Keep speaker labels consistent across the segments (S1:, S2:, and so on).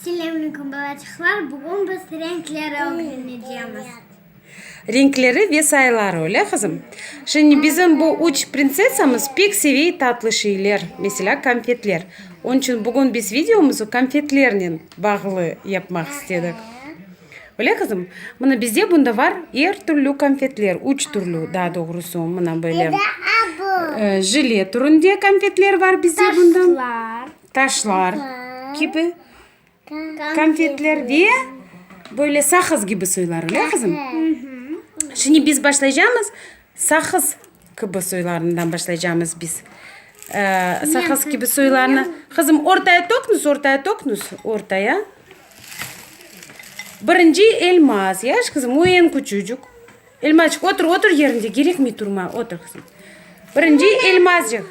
S1: Selâmlikum balaçıqlar, bugün biz renkleri ögrenecemiz.
S2: Renkleri ve sayıları, öyle qızım? Şimdi bizim bu üç prinsessamız pek sevey tatlı şeyler, meselâ konfetler. Onıñ içün bugün biz videomızı konfetlernen bağlı yapmaq istedik. Öyle qızım? Mına bizde bunda var er türlü konfetler, üç türlü daa doğrusu, mına böyle jile türünde konfetler var bizde bunda. Taşlar. Taşlar kibi konfetler ve böyle saqız kibi suylar, öyle qızım? Şimdi biz başlaycamız saqız. Kibi soylarından başlaycamız biz. Saqız kibi soylarnı. Qızım, ortaya töknüz, ortaya töknüz, ortaya. Birinci elmaz, yaş qızım, o eñ küçücük. Elmazcıq, otur, otur yerinde, gerekmey turma, otur qızım. Birinci elmazcıq.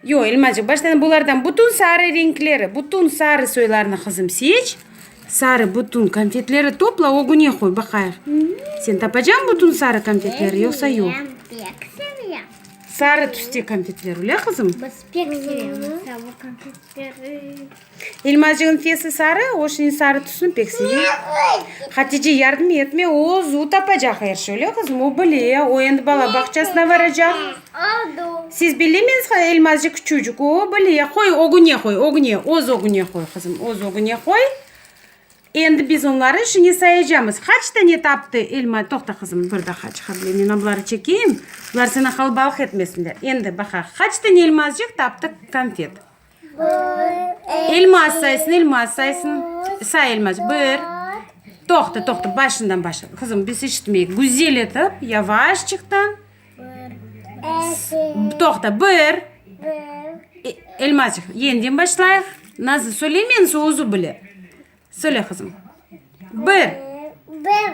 S2: Yoq, İlmacığım, baştan bulardan bütün sarı renkleri, bütün sarı soylarnı qızım seç, sarı bütün konfetleri topla, ögüne qoy, baqayıq, sen tapacaqsıñ bütün sarı konfetleri, yoqsa yoq? Bilmirem, pek sevem.
S1: Sarı tüste
S2: konfetler, öyle qızım? Biz pek sevemiz
S1: sarı konfetleri. Elmacığın
S2: fesi sarı, o şniñ sarı tüsni pek seve. Hatice yardım etme, o özü tapacaq er şey, öyle qızım? O bile, o endi bala bağçasına varacaq.
S1: Siz bilemiz
S2: ha, Elmacık küçücük, o bile. Qoy, ögüne qoy, ögüne, öz ögüne qoy, qızım, öz ögüne qoy. Endi biz onları şıñı sayacamız. Qaç tane taptı Elma? Toqta, qızım, bir daha çıqa bile, men abları çekeyim, bular seni qalbalıq etmesinler. Endi baqa, qaç tane Elmacık taptı konfet? İlmaz saysın, İlmaz saysın. Say İlmaz. Bir. Toqta, toqta, başından başla. Qızım, biz eşitmeyik. Güzel etip, yavaşçıqtan. Toqta, bir. İlmaz, yenden başlayıq. Nazlı söylemeyinse, özü bile. Söyle, qızım. Bir. Bir.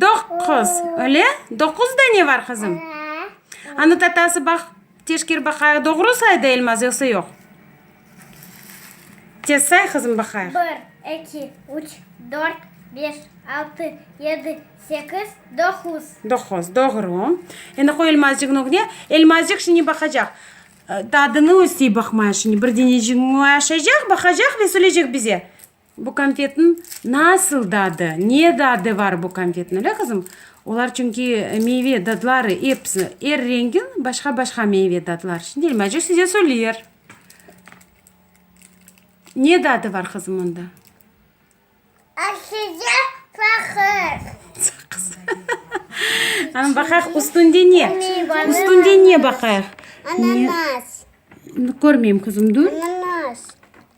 S2: Doquz, öyle? Doquz dane bar, qızım? Anı tatası baq, teşker baqayıq, doğru saydı Elmaz, yoqsa yoq? Tez say, qızım, baqayıq. Bir, eki,
S1: üç, dört, beş, altı, yedi, sekiz,
S2: doquz. Doquz, doğru. Endi qoy Elmazcığıñ ögüne. Elmazcıq şimdi baqacaq. Tadını östey baqmaya şimdi. Bir deneciğin öaşacaq, baqacaq ve söyleycek bize. Bu konfetniñ nasıl dadı, ne dadı var bu konfetniñ, öyle qızım? Olar çünki meyve dadları episi, er rengiñ başqa-başqa meyve dadları. Şimdi İlmece size söyler. Ne dadı var qızım onda? Aşıcı
S1: saqız. Saqız.
S2: Ana baqayıq, üstünde ne? Üstünde ne baqayıq?
S1: Ananas. Körmeyim
S2: qızım, dur. Ananas.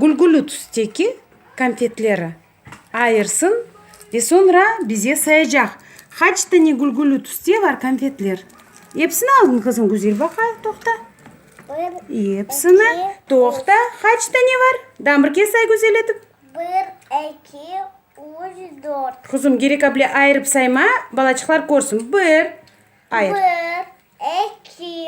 S2: Gülgülü tüsteki konfetleri ayırsın ve soñra bize sayacaq. Qaç tane gülgülü tüste bar konfetler? Epsini aldın qızım? Güzel baqayıq, toqta. Epsini. Toqta. Qaç tane bar? Daa bir kez say güzel etip. Bir,
S1: eki, üç, dört. Qızım, gerek aple
S2: ayırıp sayma, balaçıqlar körsün. Bir, ayır. Bir,
S1: eki,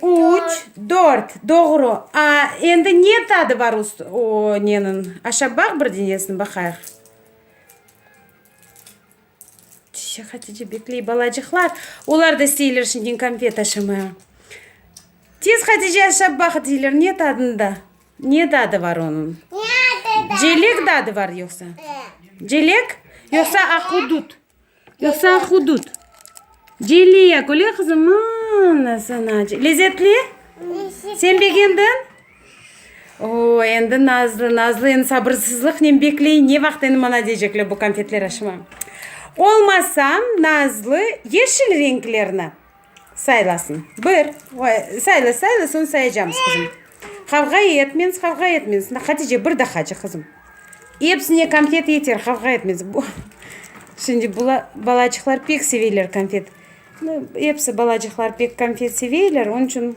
S1: Üç,
S2: dört, doğru. A, endi ne tadı bar o neniñ? Aşap baq bir denesini, baqayıq. Çişe Hatice bekley, balacıqlar. Olar da isteyler şimdiñ konfet aşamağa. Tez, Hatice, aşap baq deyler. Ne tadında? Ne dadı bar onıñ? Celek dadı bar yoqsa? Celek? Yoqsa ahudut? Yoksa hudut. Celliya köle qızı mana sana. Lezetli? Sen begendiñ? Oo, endi nazlı, nazlı endi sabırsızlıqnen bekley, ne vaqıt endi mana deycekler bu konfetler aşıma. Olmasa nazlı yeşil renklerni. Saylasın. Bir. Sayla, sayla, soñ sayacamız, qızım. Qavğa etmeñiz, qavğa etmeñiz. Şimdi, Hatice, bir dahacı, qızım. Epsine konfet yeter, qavğa etmeñiz. Şimdi, bular, balacıqlar pek seveyler konfet. Episi balacıqlar pek konfet seveyler, onıñ içün.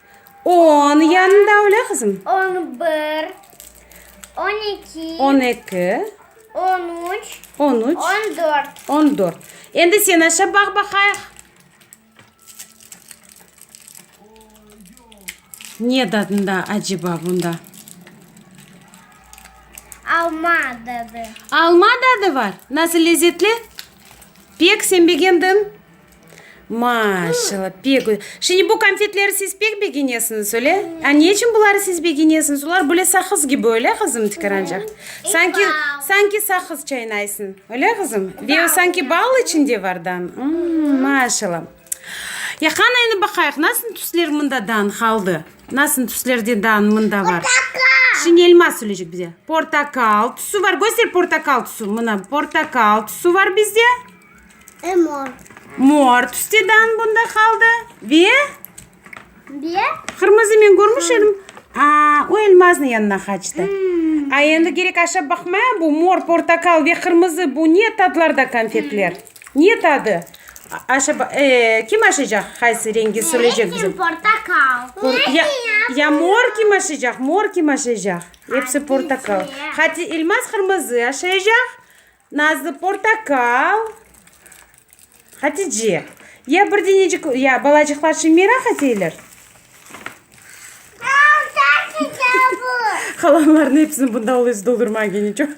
S2: On yanında öyle qızım? On bir,
S1: on iki. On eki.
S2: On üç.
S1: On üç. On
S2: dört. On
S1: dört.
S2: Endi sen aşa baq baqayıq. Ne dadında acaba bunda?
S1: Alma dadı. Alma dadı
S2: var. Nasıl lezzetli? Pek sen beğendin. Maa-şalla, pek gü. Şimdi bu konfetleri siz pek begenesiñiz, öyle? A ne içün buları siz begenesiñiz? Olar böyle saqız kibi, öyle, qızım, tikirancaq? Sanki, sanki saqız çaynaysıñ, öyle, qızım? Ve o sanki bal içinde vardan. Mmm, maa-şalla. Ya qani, endi baqayıq, nasıl tüsler mındadan qaldı? Nasıl tüslerdedan mında var? Portakal! Şimdi elma söyleycek bize. Portakal tüsü var. Köster portakal tüsü. Mına portakal tüsü var bizde. E mor.
S1: Mor
S2: tüste dan bunda qaldı. Ve?
S1: Ve? Qırmızınen
S2: görmüş edim. Aa, o elmaznı yanına qaçtı. Hmm. A endi gerek aşap baqmaya bu mor, portakal ve qırmızı bu ne tatlarda konfetler? Hmm. Ne tadı? Aşa, e, kim aşacaq? Qaysı rengi söyleyecek bize? Portakal. Por,
S1: ya, ya
S2: mor kim aşacaq? Mor kim aşacaq? Hepsi portakal. Hadi elmas qırmızı aşacaq. Nazlı portakal, Hatice. Ya bir denecik, ya balacıqlar şe meraq eteyler. Qalanlarnı hepsini bunda alıyız doldurma gene. Çoq,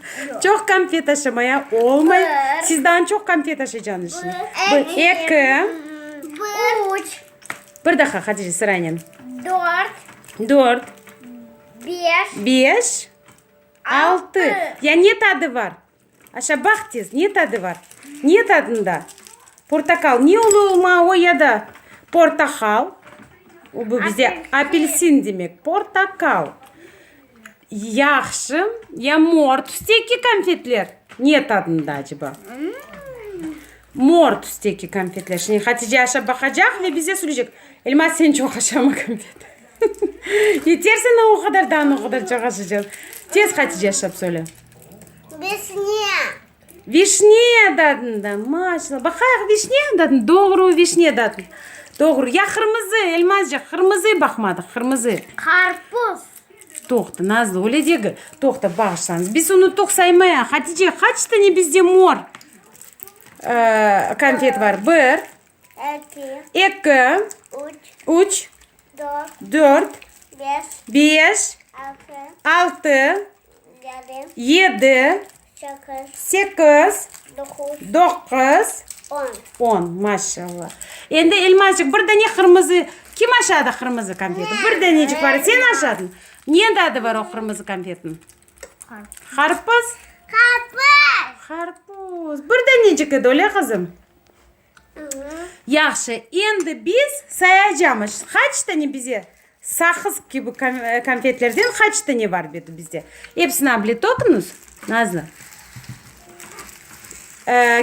S2: çoq konfet aşamaya olmay. Sizdan çoq konfet aşaycağınız şe. Bir, eki.
S1: Üç. Bir
S2: daha Hatice sıranen. Dört.
S1: Dört. Beş.
S2: Beş. Altı. Ya ne tadı var? Aşa baq tez, ne tadı var? Ne tadında? Portakal. Ne olu olma o ya da? Portahal. O bu bize apelsin demek. Portakal. Yahşı. Ya mor tüsteki konfetler? Ne tadında aceba? Mor tüsteki konfetler. Şimdi Hatice aşa baqacaq ve bize söyleycek. Elmaz sen çoq aşamı konfet. Yeter saña o qadar daan, o qadar cağaşacağız. Tez Hatice aşap söyle. Vişne. Vişne dadın da, maşallah. Baqayıq vişne dadın, doğru vişne dadın. Doğru. Ya qırmızı, Elmazcıq, qırmızı baqmadıq, qırmızı. Qarpuz.
S1: Toqta,
S2: Nazlı, öyle degil. Toqta, bağışlañız. Biz unuttuq saymaya. Hatice, qaç tane bizde mor konfet bar? Bir. Eki. Eki. Üç. Üç. dört, beş, altı, yedi, sekiz, doquz, on. Maşallah. Endi, Elmazcıq, bir dene qırmızı, kim aşadı qırmızı konfeti? Bir denecik bar, sen aşadıñ. Nende adı bar o qırmızı konfetniñ? Qarpız. Qarpız! Qarpız! Bir denecik edi, öyle qızım? Yahşı, endi biz sayacamız, qaç tane bize saqız kibi konfetlerden qaç tane bar edi bizde. Epsini able toqunuz, Nazlı.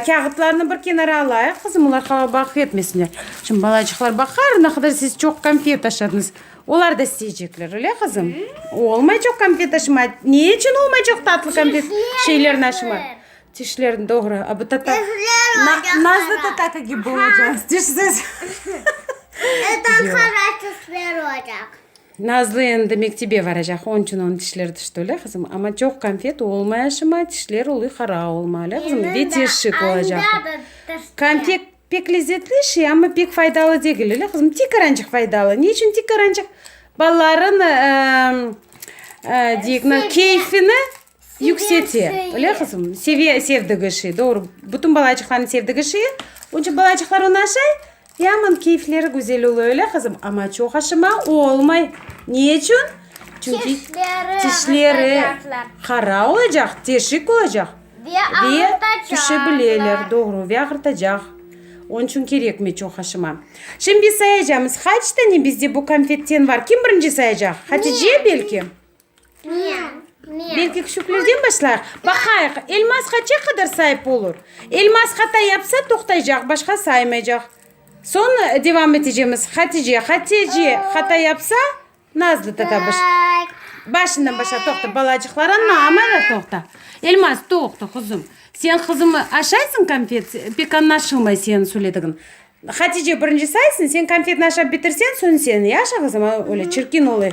S2: Kâğıtlarnı bir kenara alayıq, qızım, olar hava baqıp etmesinler. Şimdi balacıqlar baqar, ne qadar siz çoq konfet taşıdınız. Olar da isteycekler, öyle, qızım? Olmaycaq konfet taşıma. Ne içün olmaycaq tatlı konfet şeyler naşıma? Tişlerin doğra, a bu tatar. Nazlı tatar kibi olacağız, tişsiz. Nazlı endi mektebe varacaq, onıñ içün onıñ tişleri tişti, öyle qızım? Amma çoq konfet olmaya şıma, tişleri oluy qara olma, öyle qızım? Ve teşik olacaq. Konfet pek lezzetli şey, amma pek faydalı degil, öyle qızım? Tik arancıq faydalı. Ne içün tik arancıq? Balalarnıñ, keyfini, Yüksete. Öyle qızım? Seve, sevdigi şey. Doğru. Bütün balaçıqlarnıñ sevdigi şey. Onıñ içün balaçıqlar onı aşay. Yaman keyfleri güzel oluy. Öyle qızım? Amma çoq aşama olmay. Ne içün? Çünki tişleri qara olacaq, teşik olacaq. Ve ağırtacaq. Tüşebileler. Doğru. Ve ağırtacaq. Onıñ içün kerekmey çoq aşama. Şimdi biz sayacamız. Qaç tane bizde bu konfetten var? Kim birinci sayacaq? Hatice belki?
S1: Belki küçüklerden
S2: başlayıq. Baqayıq, elmas qaça qadar saip olur? Elmas hata yapsa toqtaycaq, başqa saymaycaq. Soñ devam etecemiz. Hatice, Hatece hata yapsa, Nazlı tata baş. Başından başla, toqta, balacıqlar, anna, amara toqta. Elmas, toqta, quzum. Sen qızımı aşaysıñ konfet, pek añlaşılmay señ söyledigiñ. Hatice birinci saysıñ, señ konfetni aşap bitirseñ, soñ señ. Yaşa qızım, öyle çirkin olay.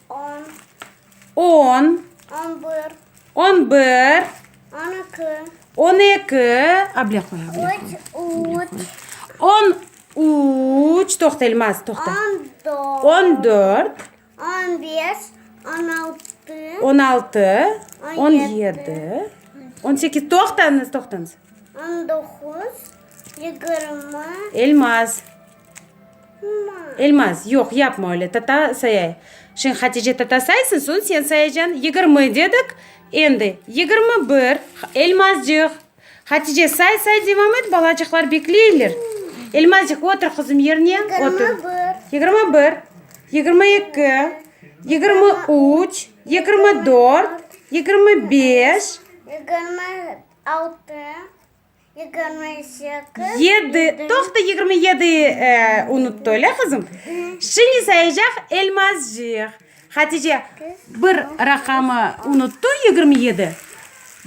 S1: On.
S2: On
S1: bir.
S2: On eki. Able
S1: qoy,
S2: able qoy. On
S1: üç.
S2: Toqta, Elmaz, toqta. On
S1: dört. On altı.
S2: On yedi. On sekiz. Toqtañız, toqtañız. Elmaz. Elmaz, yoq, yapma öyle, tata sayay. Şeñ Hatice tata saysıñ, soñ sen sayacan. Yigirmi dedik, endi yigirmi bir. Elmazcıq, Hatice say, say, devam et, balacıqlar bekleyler. Elmazcıq, otur qızım yerine, otur. Yigirmi bir. Yigirmi eki. Yigirmi üç. Yigirmi dört. Yigirmi beş. Yigirmi
S1: altı. Yigirmi sekiz. Yedi. Toqta,
S2: yigirmi yedi unuttı, öyle qızım? Şimdi sayacaq Elmazcıq. Hatice bir raqamı unuttı, yigirmi yedi.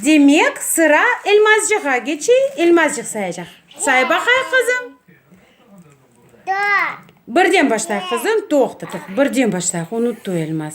S2: Demek, sıra Elmazcığa keçey. Elmazcıq sayacaq. Say baqayıq, qızım.
S1: Dört.
S2: Birden başlayıq, qızım. Toqta, toqta. Birden başlayıq, unuttı Elmaz.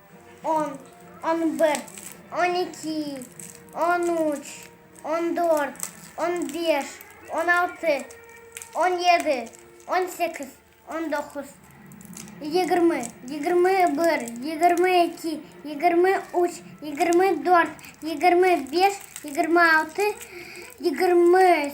S1: On, on bir, on eki, on üç, on dört, on beş, on altı, on yedi, on sekiz, on doquz, yigirmi, yigirmi bir, yigirmi eki, yigirmi üç, yigirmi dört, yigirmi beş, yigirmi altı, yigirmi.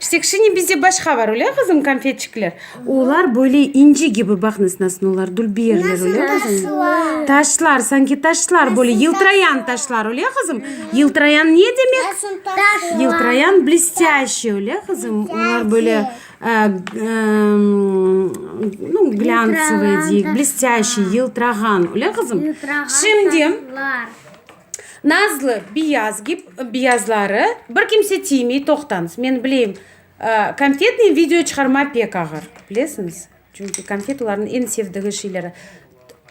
S2: Ştekşini bizde başqa bar, öyle qızım, konfetçikler? Olar böyle inci kibi, baq nasıl nasıl olar dülbiyerler, öyle qızım? Taşlar. Taşlar, sanki taşlar böyle, yıltırayan taşlar, öyle qızım? Yıltırayan ne demek? Taşlar. Yıltırayan blestyaşiy, öyle qızım? Olar böyle e, e, ну, glântsıvıy deyik, blestyaşiy, yıltırağan, öyle qızım? Şimdi, Taşlar. Nazlı, biyaz gip, biyazları bir kimse tiymey, toqtañız, men bileyim, konfetniy video çıqarma pek ağır, bilesiñiz, çünki konfet olarnıñ eñ sevdigi şeyleri.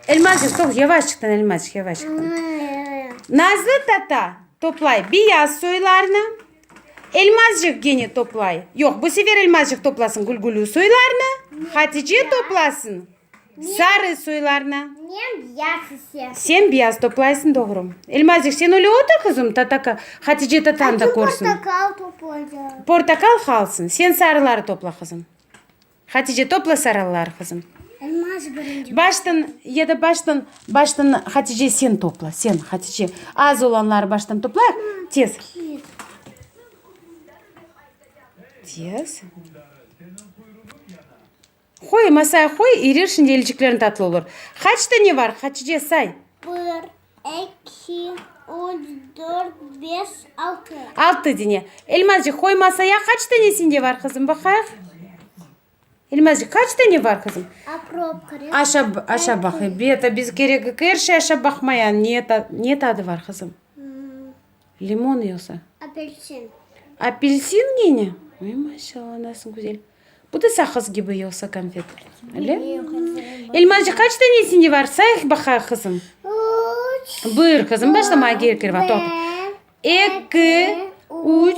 S2: Elmazcıq, toq, yavaşçıqtan, Elmazcıq, yavaşçıqtan. Nazlı tata toplay biyaz soylarnı, Elmazcıq gene toplay, yoq, bu sefer Elmazcıq toplasın gülgülü soylarnı, Hatice toplasın Sarı soylarnı. Men biyaz
S1: ise. Sen biyaz toplaysıñ,
S2: doğru. Elmazik, sen öyle otur, qızım, tata ka, Hatice tatañ da körsün. Açın portakal toplayda.
S1: Portakal halsıñ.
S2: Sen sarıları topla, qızım. Hatice, topla sarılıları, qızım. Elmazik birinci.
S1: Baştan, ya da baştan, baştan,
S2: Hatice, sen topla, sen, Hatice. Az olanları baştan toplayıq, tez. Tez. Qoy, masaya qoy, erir, şimdi elciklerin tatlı olur. Qaç dane var, Hatice, say. Bir,
S1: eki, üç, dört, beş, altı. Altı dene.
S2: Elmazcıq, qoy masaya, qaç dane sende var, qızım, baqayıq. Elmazcıq, qaç dane var, qızım? Aprop kerek. Aşa, aşa baqay. Beta, biz kerek, kerşi aşa baqmaya. Ne, ne tadı var, qızım? Limon yoqsa? Apelsin.
S1: Apelsin
S2: gene? Ey, maşallah, nasıl güzel. Bu da saqız kibi yoqsa konfet? Öyle? Elmacı kaç tanesinde bar? Sayıq baqa, qızım. Üç.
S1: Buyur, qızım, başlamağa
S2: gerek yok. Toq. Eki, üç,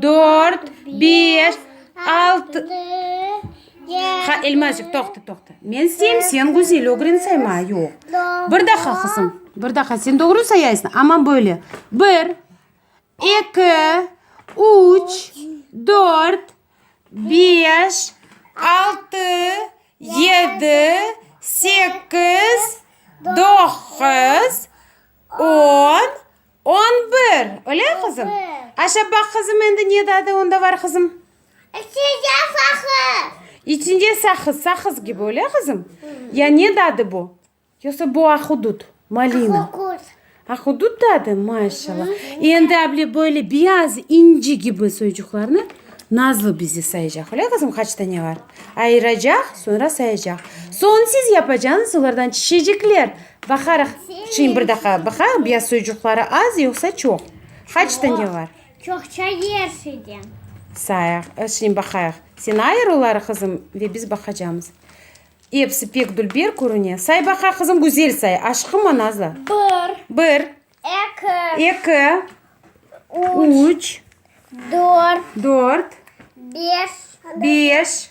S2: dört, beş, altı. Ha, Elmacıq, toqta, toqta. Men seyim, sen Güzel ögren sayma. Yoq. Bir daha, qızım. Bir daha. Sen doğru sayaysıñ, amma böyle. Bir, eki, üç, dört, beş, altı, yedi, sekiz, doquz, on. On bir, öyle qızım? Aşa baq qızım endi ne dadı onda var qızım? İçinde saqız. İçinde saqız, saqız kibi öyle qızım? Ya ne dadı bu? Yoqsa bu ahudut, malina? Ahudut. Ahudut dadı? Maşallah. Endi able böyle beyaz inci kibi soyucuqlarını Nazlı bize sayacaq, öyle qızım? Qaç tane var? Ayıracaq, sonra sayacaq. Soñ siz yapacaqsınız olardan çişecekler. Baqarıq. Çiñ bir daqa baqaq, biyaz soyucuqları az yoqsa çoq? Qaçta ne var? Çoqça yer
S1: şeyden. Sayaq,
S2: çiñ baqayıq. Sen ayır oları qızım ve biz baqacamız. Episi pek dülber körüne. Say baqa qızım, güzel say. Aşqıma nazlı. Bir. Bir. Eki. Eki. Üç. Üç. Dört. Dört. Beş. Beş.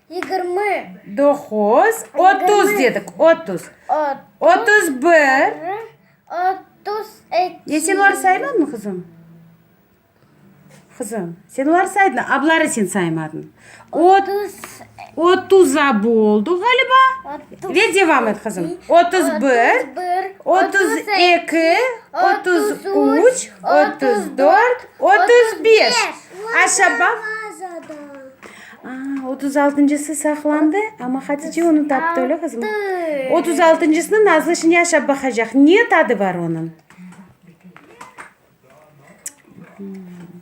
S1: Yigirmi.
S2: Doquz. Otuz dedik, otuz. Otuz bir. Otuz
S1: eki. E, sen oları saymadın,
S2: qızım? Qızım, sen oları saydıñ, a buları sen saymadın. Otuz. Otuz abi oldu ğaliba. Ve devam et, qızım. Otuz bir. Otuz eki. Otuz üç. Otuz dört. Otuz beş. Aşağı baq. Otuz altıncısı saqlandı, amma Hatice onı taptı, öyle qızım? Otuz altıncısını Nazlı şimdi aşap baqacaq. Ne tadı bar onıñ?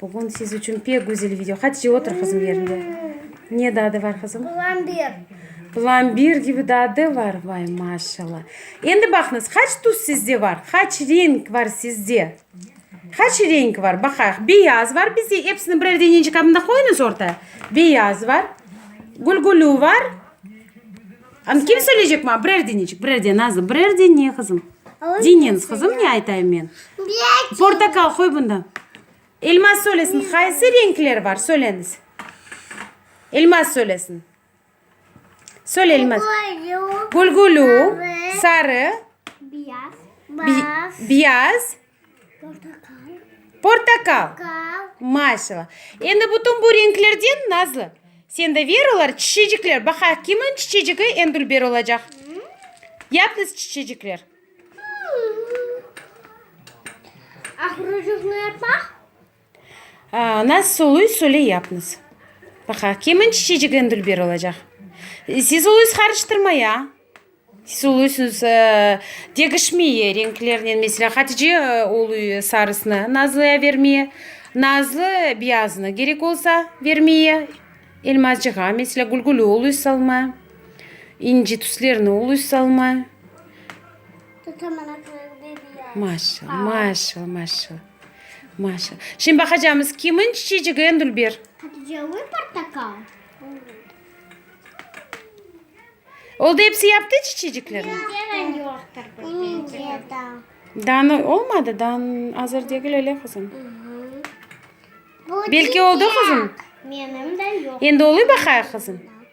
S2: Bugün siz içün pek güzel video. Hatice, otur qızım yeriñde. Ne dadı bar, qızım? Plambir. Plambir kibi dadı bar. Vay, maşallah. Endi baqıñız, qaç tuz sizde bar? Qaç renk bar sizde? Qaç renk var, baqayıq. Beyaz var, bizde episini birer deneci qabında qoyunız orta. Beyaz var, gülgülü var. Anı kim söyleycek maña? Birer deneci, birer dene, Nazlı, birer dene, qızım. Deñiñiz, qızım, ne aytayım men. Portakal, qoy bunda. Elmaz söylesin, qaysı renkler var, söyleñiz. Elmaz söylesin. Söyleyilmez. Gülgülü, sarı, biyaz,
S1: portakal. Maşallah.
S2: Endi bütün bu renklerden, Nazlı, sende ver olar, çiçecikler. Baqa, kimin çiçecigi eñ dülber olacaq? Yalnız çiçecikler. Naz suluy sule yapnız. Baqa, kimin çiçecik en dülber olacaq? Siz uluy sqarıştırma ya. Siz uluy siz degişmeye renklernen. Mesela Hatice uluy sarısnı Nazlıya vermeye, Nazlı biyaznı gerek olsa vermeye. Elmazcığa mesela Gülgülü uluy salma, İnci tüslerni uluy salma.
S1: Maşallah, maşallah,
S2: maşallah. Maşa. Şimdi baqacamız, kimin çiçecigi en dülber? Patlıcanlı
S1: portakal.
S2: Oldu, hepsi yaptı çiçeciklerini? Neden yoqtır
S1: bizde? Dan olmadı,
S2: dan hazır degil öyle kızım. Belki oldu kızım? Benim de
S1: yok. Endi oluy baqayıq kızım.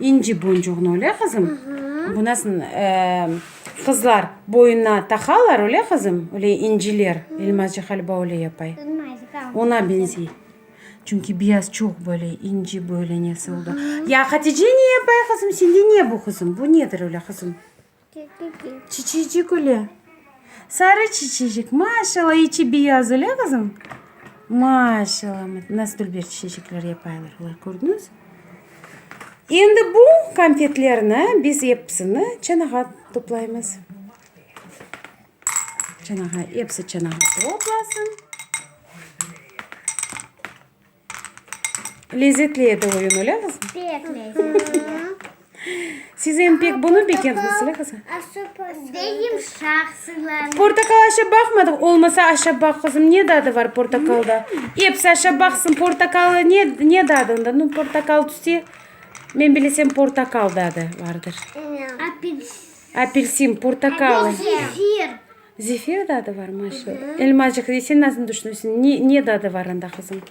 S2: İnci boncuğını, öyle qızım? Bu nasıl qızlar boyuna taqalar, öyle qızım? Öyle inciler, elmacı qalba öyle yapay. Ona benzey. Çünki biraz çoq böyle inci böyle nesi oldu. Ya Hatice ne yapay qızım? Sende ne bu qızım? Bu nedir öyle qızım? Çiçecik üle. Sarı çiçecik. Maşalla, içi biyaz, üle, qızım? Maşalla. Nasıl dülber çiçecekler yapaylar olar, kördiñiz? Endi bu konfetlerni biz episini çanağa toplaymız. Çanağa, episi çanağa toplasın. Lezetli edi oyun, öyle mi qızım? Pek lezetli. Siz em pek bunı bekendiñiz, öyle qızım? Beyim
S1: şahsılarını. Portakal aşa
S2: baqmadıq, olmasa aşa baq, qızım, ne dadı var portakalda? Epsi aşa baqsın, portakalı ne, ne dadı onda? Nu, portakal tüse, men bilesem portakal dadı vardır. Apelsin. Apelsin, portakalı. Zefir.
S1: Zefir dadı
S2: var mı şu? Elmacıq de, sen nasıl tüşünesiñ, ne, ne dadı var anda, qızım?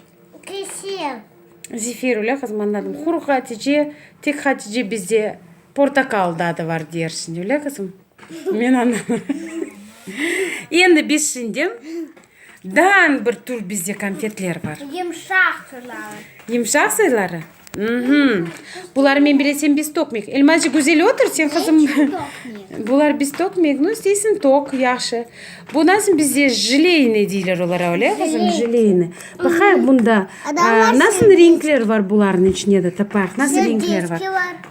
S2: Kefir.
S1: Zefir,
S2: öyle qızım, anladım. Quruq Hatice, tek Hatice bizde portakal dadı var deyersiñ, öyle qızım? Men anlamadım. Endi biz şimdi. Daan bir tur bizde konfetler bar. Yımşaq
S1: turları. Yımşaq sayıları?
S2: Mhmm. Buları men bile sen biz tokmik. Elmacı güzel otur sen kızım. Bular biz tokmik. Nu isteysin tok yahşı. Bu nasıl bizde jileyni deyler olara öyle kızım jileyni. Bakayıq bunda nasıl renkler var buların içinde de tapayıq. Nasıl renkler var?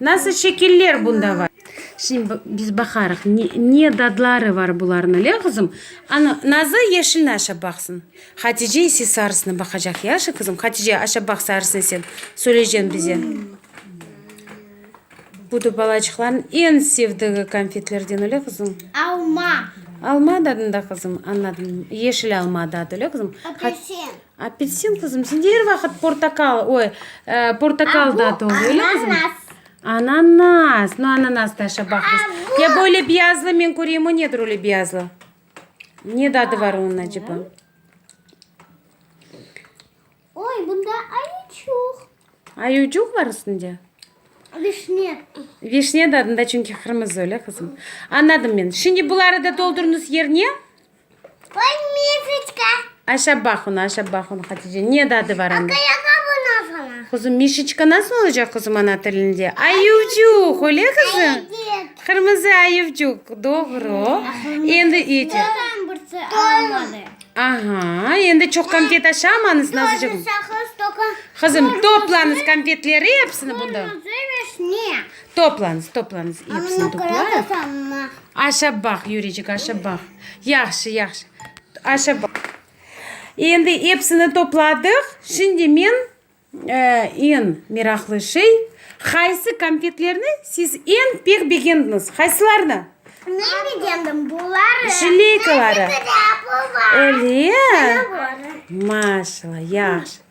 S2: Nasıl şekiller bunda var? Şimdi biz baqarıq, ne dadları var bularnıñ, le, qızım? Ana, Nazı yeşilni aşap baqsın. Hatice ise sarısını baqacaq, yaşa, qızım? Hatice, aşap baq sarısını sen, söyleycen bize. Bu da balaçıqlarnıñ eñ sevdigi konfetlerden, öyle, qızım? Alma.
S1: Alma
S2: dadında, qızım? Anladım. Yeşil alma dadı, öyle, qızım? Apelsin.
S1: Apelsin,
S2: qızım, sende er vaqıt portakal, oy, portakal dat ol, öyle mi, qızım? Ananas. No, ananas da aşa baq biz. Ya böyle biyazlı men köreyim, o nedir öyle biyazlı? Ne dadı var onun acaba?
S1: Oy, bunda ayuçuq. Ayucuq
S2: var üstünde? Vişne.
S1: Vişne
S2: dadında, çünki qırmızı öyle, qızım. Anladım men. Şimdi buları da doldurınız yerine.
S1: Aşap baq
S2: onı, aşap baq onı, Hatice. Ne dadı var anda?
S1: Quzum, Mişiçka nasıl
S2: olacaq, quzum, ana tilinde? Ayuvcuq, öyle qızım? Qırmızı ayuvcuq, doğru. Endi iti. Aha, endi
S1: çoq
S2: konfet aşamañız,
S1: nazıcığım.
S2: Qızım, toplañız konfetleri epsini bundan.
S1: Toplañız,
S2: toplañız, epsini toplayıq.
S1: Aşap baq,
S2: Yuricik, aşap baq. Yahşı, yahşı. Aşap baq. Endi epsini topladıq. Şimdi men, eñ meraqlı şey, qaysı konfetlerni siz eñ pek begendiñiz? Qaysılarnı? Men
S1: begendim buları. Jileykaları.
S2: Öyle?
S1: Maşallah,
S2: yahşı.